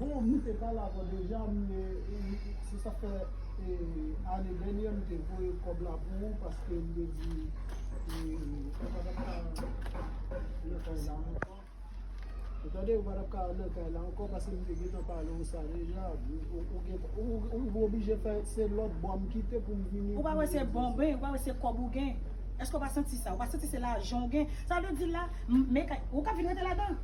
Bon m te pale avèw deja m se sa fè ane dènyè m te voye kòb la pou ou paske m te di ou pa tap ka nan kay la ankò ou tande ou pa tap ka nan kay la ankò paske m te gentan pale w sa deja ou oblije fè se lòt bò m kite pou m vini ou pa wè se bon ben ou pa wè se kòb ou gen èske ou pa santi sa ou pa santi se lajan ou gen sa w te di la m men kay ou ka vin rete ladan.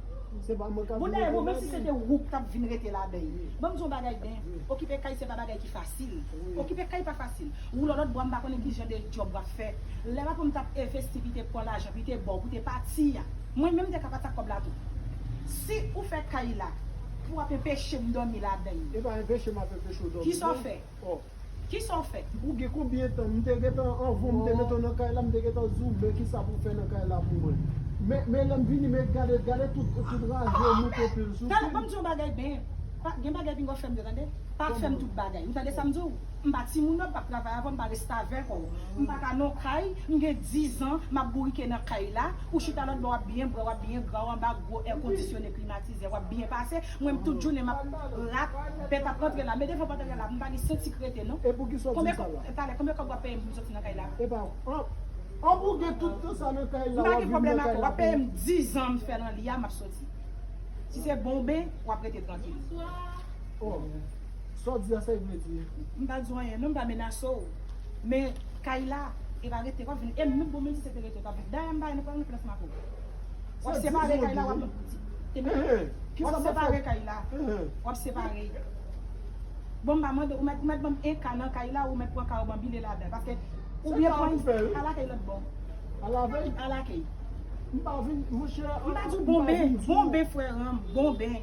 Bon dayè bon menm si se te wou k tap vin rete ladan y ban m di w yon bagay Ben okipe kay se pa bagay ki fasil okipe kay pa fasil wou lòlòt bwa m pa konnen kijan de djòb w ap fè lè papaw m t ap evesti pi te pran lajan pi te ba w pou te pati a mwen menm m te ka pati ak kòb la tou si ou fè kay la pou ap enpeche m dòmi ladan y kisa w fè. Oh. Kisa w fè? Ou gen konbyen tan? M te gentan anvan m te mete w nan kay la m te gentan di w men kisa pou w fè nan kay la pou mwen. Men men lè m vini men gade gade tout tout raje yo moute pil sou pil. Tande banm di w yon bagay Ben, pa gen bagay pinga w fè m yo tande. Pa fè m tout bagay. Ou tande sa m di w? M pa timoun nan, ou pap travay avè m, m pa restavèk ou. M pa ka nan yon kay, m gen dizan m ap bourike nan kay la, ou chita lòtbò w ap byen bwè, w ap byen gra, w anba gwo èkondisyone klimatizè, w ap byen pase. Mwen m tout jounen map rat bèt ap rantre la men devan pòt anlè la m pa gen senti krete non Konbyen kòb talè konbyen kòb wap peye m pou m soti nan kay la M pa gen pwoblèm ak ou wap peye m 10 ans m fè nan li a map soti Si se bon ben wap rete trankil M pa di w anyen non m pa menase w men kay la epa rete wap vin e m non bon menm si se te rete w tap vin Dayambaye nou pral nan plas makout. Wap separe kay la wap yon pitit. Wap separe kay la wap separe. Bon mpa mande ou mèt banm 1 ka nan kay la ou mèt pran ka ou banm bile ladan paske ou byen pran al akey lòt bò. Al akey. Mpa di w bonbe, bonbe frèranm, bonbe.